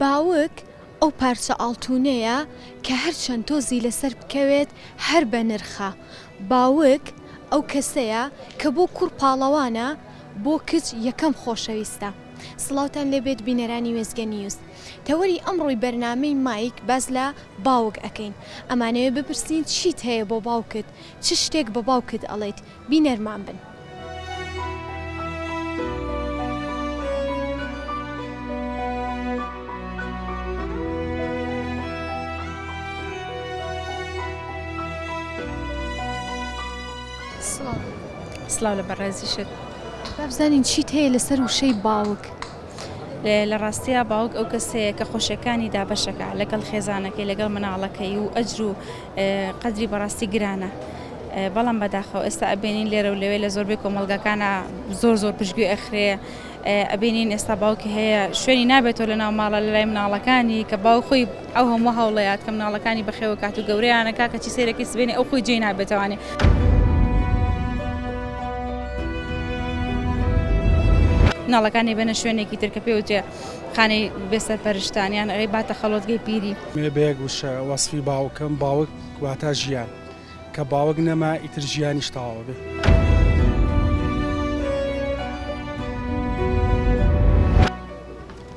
باوک، ئەو پارچە ئاڵتونەیە کە هەرچەند تۆزی لەسەر بکەوێت هەر بە نرخە. باوک، ئەو کەسەیە کە بۆ کوڕ پاڵەوانە بۆ کچ یەکەم خۆشەویستە. سڵاوتان لێ بێت بینەرانی وێستگە نیوز. تەوەری ئەمڕۆی بەرنامەی مایک باس لە باوک ئەکەین. ئەمانەوێ بپرسین چیت هەیە بۆ باوکت؟ چ شتێک بە باوکت ئەڵێیت؟ بینەرمان بن. سڵاو لە بەڕێزیشت. با بزانین چیت هەیە لەسەر وشەی باوک؟ لە ڕاستیا باوک ئەو کەسەیە کە خۆشیەکانی دابەشەکە لەگەڵ خێزانەکەی لەگەڵ مناڵەکەی و ئەجر و قەدری بەڕاستی گرانە بەڵام بەداخەوە ئێستا ئەبێنین لێرە و لەوێ لە زۆربەی کۆمەڵگەکانە زۆر زۆر پشتگوێ ئەخرێ ئەبێنین ئێستا باوکی هەیە شوێنی نابێتەوە لە ناو ماڵە لە لای مناڵەکانی کە باو خۆی ئەو هەموو هەوڵەیات کە مناڵەکانی بەخێوە کات و گەورەیانەکە کە چی سێرەکەی سبێنێ ئەو خۆی جێ نابێتوانێ. ناڵەکانی بەنە شوێنێکی ترکە پێوتێ خانەی بێسەر پەرشتانیان ئەوەی باتە خەڵۆتگەی پیری. بەیەک وشە وەسفی باوکم باوک واتا ژیان کە باوک نەما ئیتر ژیانیش تەواوە بێ.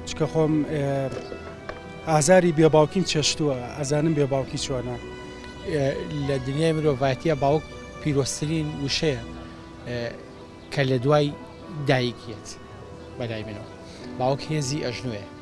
چکە خۆم ئازاری بێ باوکیم چێشتووە ئەزانم بێ باوکی چۆنە لە دنیای مرۆڤاتیە باوک پیرۆسترین وشەیە کە لە دوای دایکیت بەلای منەوە باوک هێزی ئەژنوێ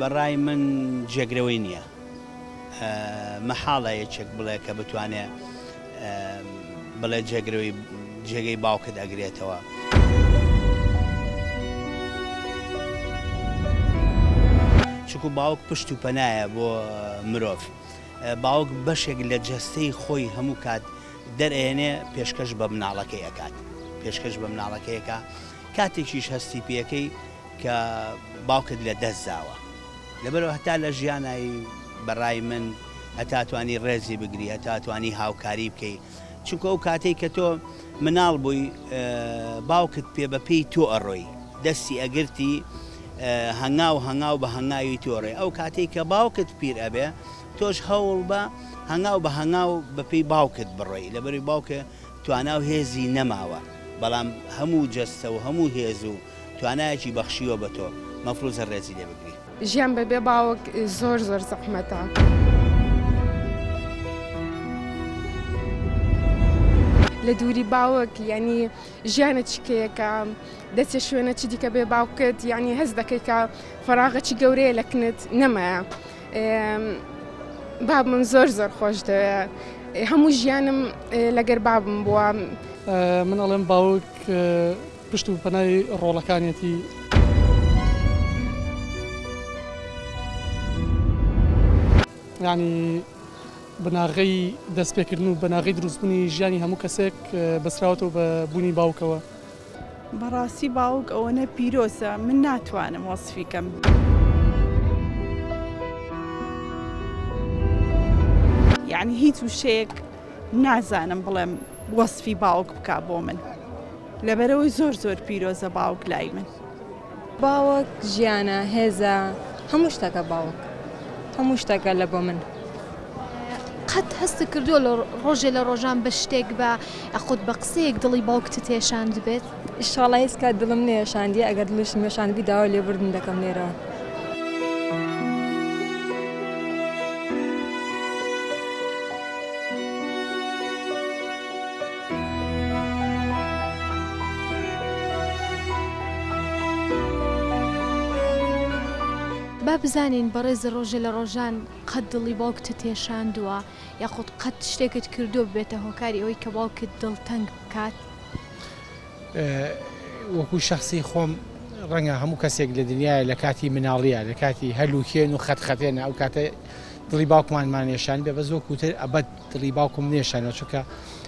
بەڕای من جێگرەوەی نییە. مەحاڵە یەکێک بڵێ کە بتوانێ بڵێ جێگرەوەی جێگەی باوکت ئەگرێتەوە. چونکو باوک پشت و پەنایە بۆ مرۆڤ. باوک بەشێک لە جەستەی خۆی هەموو کات دەرئەیەنێ پێشکەش بە مناڵەکەی ئەکات. پێشکەش بە مناڵەکەیەکە کاتێکیش هەستی پێکەی، کە باوکت لە دەست داوە لەبەرئەوە هەتا لە ژیانای بەڕای من هەتا توانی ڕێزی بگری هەتا توانی هاوکاری بکەی چونکە ئەو کاتەی کە تۆ مناڵ بووی باوکت پێ بە پێی تۆ ئەڕۆی دەستی ئەگرتی هەنگاو هەنگاو بە هەنگاوی تۆ ڕێ ئەو کاتەی کە باوکت پیر ئەبێ تۆش هەوڵ بە هەنگاو بە هەنگاو بە پێی باوکت بڕۆی لەبەری باوکە تواناو هێزی نەماوە بەڵام هەموو جەستە و هەموو هێز و توانایەکی بەخشیوە بە تۆ مەفروزە ڕێزی لێ بگری. ژیان بە بێ باوک زۆر زۆر زەحمەتە. لە دووری باوک ینی ژیانە چکەیەکە دەچێ شوێنە چ دیکە بێ باوکت ینی هەز دەکەیکە فراغەچی گەورەیە لە کنت نەمایە باب من زۆر زۆر خۆش دەوێ هەموو ژیانم لەگەر بابم بووە منەڵێم باوک پشت و پەنای ڕۆڵەکانیەتی. یانی بناغەی دەست پێکردن و بناغەی دروست بونی ژیانی هەموو کەسێک بەسراوەتەوە بە بونی باوکەوە. بەڕاستی باوک ئەوەنە پیرۆزە من ناتوانم وەسفی کەم. یانی هیچ وشەیەک نازانم بڵێم وەسفی باوک بکا بۆ من. لەبەرئەوەی زۆر زۆر پیرۆزە باوک لای من. باوک ژیانە هێزە هەموو شتەکە باوک هەموو شتەکە لە بۆ من. قەت هەستت کردووە لە ڕۆژێ لە ڕۆژان بە شتێک بە یاخود بە قسەیەک دڵی باوکتت هێشاندبێت؟ ئیشاڵا هیچ کات دڵم نەهێشاندیە ئەگەر دڵیشم هێشاندبی داوای لێبوردن دەکەم لێرەوە. با بزانین بەڕێز ڕۆژێ لە ڕۆژان قەت دڵی باوکتت تێشاندووە یاخود قەت شتێکت کردووە ببێتە هۆکاری ئەوەی کە باوکت دڵتەنگ بکات؟ وەکو شەخسی خۆم ڕەنگە هەموو کەسێک لە دنیاە لە کاتی مناڵیە لە کاتی هەلوکێن و خەتخەتێنە ئەو کاتە دڵی باوکمانمانێشان بێ بە زۆ کوتر ئەبەت دڵی باوکم نەیشارنەوە چونکە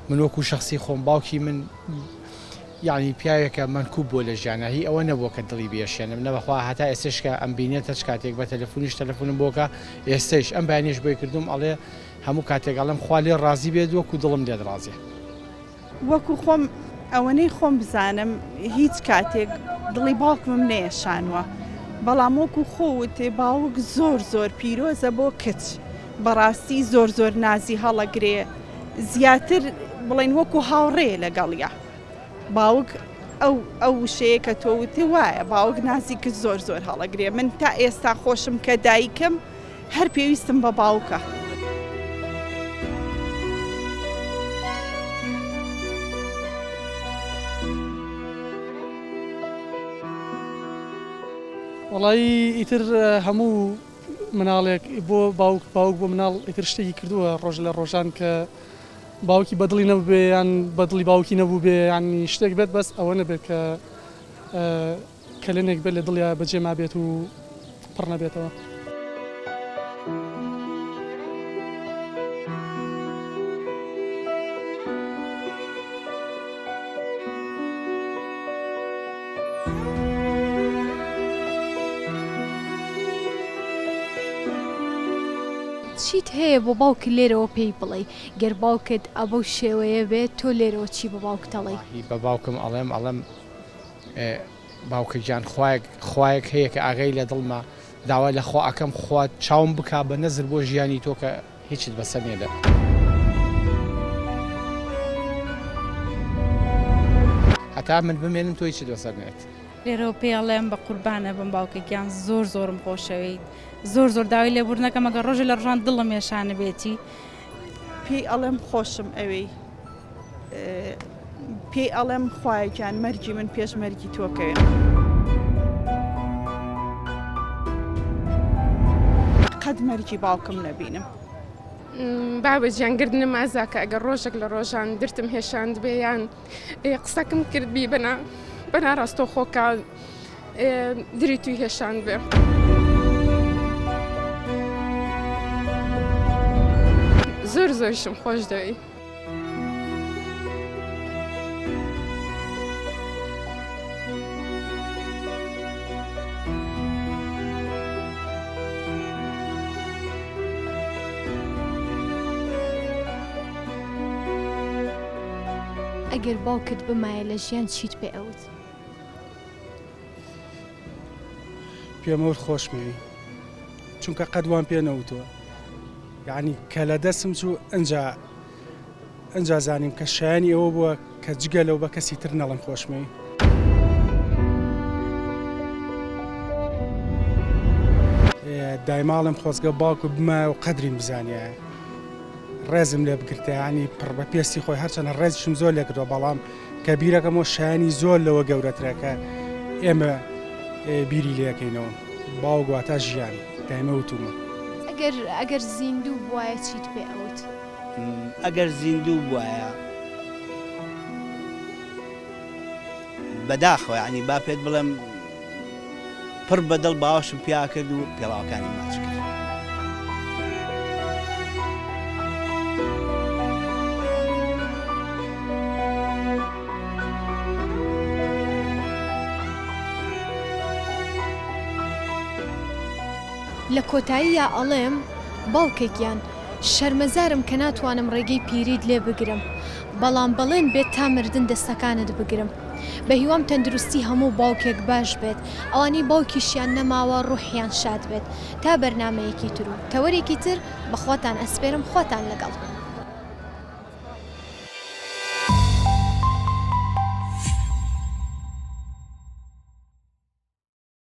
من وەکو شەخسی خۆم باوکی من یانی پیاوێکە مەنکوب بووە لە ژیانە هی ئەوە نەبووە کە دڵی بێشێنم نەبەخوا هەتا ئێستش کە ئەم بینێت هەچ کاتێک بە تەلەفونیش تەلەفونم بۆکە ئێستش ئەم بەیانیش بۆی کردوم ئەڵێ هەموو کاتێک ئەڵێم خوا لێ ڕازی بێت وەکو دڵم لێت ڕازێ وەکو خۆم ئەوەنەی خۆم بزانم هیچ کاتێک دڵی باوکمم نەیەشانوە بەڵام وەکو خۆ وتێ باوک زۆر زۆر پیرۆزە بۆ کچ بەڕاستی زۆر زۆر نازی هەڵەگرێ زیاتر بڵین وەکو هاوڕێ لەگەڵە باوک ئەو ئەو وشەیە کە تۆ وتێ وایە باوک نازی کچ زۆر زۆر هەڵەگرێ من تا ئێستا خۆشم کە دایکم هەر پێویستم بە باوکە. وەڵایی ئیتر هەموو مناڵێک بۆ باوک باوک بۆ مناڵ ئیتر شتێکی کردووە ڕۆژ لە ڕۆژان کە باوکی بەدڵی نەبێ یان بەدڵی باوکی نەبوو بێ ینی شتێک بێت بەس ئەوە نەبێت کە کەلێنێک بێت لە دڵیا بەجێ مابێت و پڕ نەبێتەوە. چیت هەیە بۆ باوکت لێرەوە پێی بڵێی؟ گەر باوکت ئەبەو شێوەیە بێت تۆ لێرەوە چی بە باوکتەڵێی؟ هی بە باوکم ئەڵێم ئەڵێم. باوکە گیان خوایەک خوایەک هەیە کە ئاگای لە دڵمە داوای لە خوا ئەکەم خوا چاوم بکا بە نەزر بۆ ژیانی تۆ کە هیچت بەسەر نیە دە. هەتا من بمێنم تۆ هیچت بەسەر نێت. لێرەوە پێی ئەڵێم بە قوربانە بم باوکە گیان زۆر زۆرم خۆشەوێیت زۆر زۆر داوای لێبوردنەکەم ئەگەر ڕۆژێ لە ڕۆژان دڵم یەشانە بێتی پێی ئەڵێم خۆشم ئەوێی پێی ئەڵێم خوایەکیان مەرگی من پێش مەرگی تۆکەوێن. قەت مەرگی باوکم نەبینم. بابە جیانگردنە مازاکە ئەگەر ڕۆژێک لە ڕۆژان درتم هێشاند بێ یان ئێ قسەکم کرد بیبەنە بەنا ڕاستەوخۆکە ئێ دری توی هێشان بێ. زۆر زۆرشم خۆش دەوێی. ئەگەر باوکت بمایە لە ژیان چیت پێ ئەوت؟ پێم ئەوت خۆشمەوێی چونکە قەت وام پێ نەوتووە یعنی کە لە دەستم چوو ئەجا ئەجا زانیم کە شایانی ئەوە بووە کە جگە لەو بە کەسی تر نەڵێم خۆشمەوێی. دایماڵێم خۆزگە باوکم بمایە و قەدریم بزانیایە ڕێزم لێ بگرتیانی پڕ بە پێستی خۆی هەرچەنە ڕێزشم زۆر لێکردەوە بەڵام کە بیرەکەمەوە شایانی زۆر لەوە گەورەترەکە ئێمە بیری لەکەینەوە باوگواتە ژیان دایمە وتومە ئەگەر ئەگەر زیندوو بواە چیت پێ ئەوت. ئەگەر زیندوو بوایە بەداخەوە یانی با پێت بڵێم پڕ بە دڵ باوەشم پیا کرد و پێڵاوەکانی ماچ کرد لە کۆتاییا ئەڵێم باوکە گیان شەرمەزارم کە ناتوانم ڕێگەی پیریت لێ بگرم بەڵام بەڵێن بێت تا مردن دەستەکانت بگرم بەهیوام تەندروستی هەموو باوکێک باش بێت ئەوانەی باوکیشیان نەماوە ڕوحیان شاد بێت تا بەرنامەیەکی تر و تەوەرێکی تر بەخواتان ئەسپێرم خواتان لەگەڵ.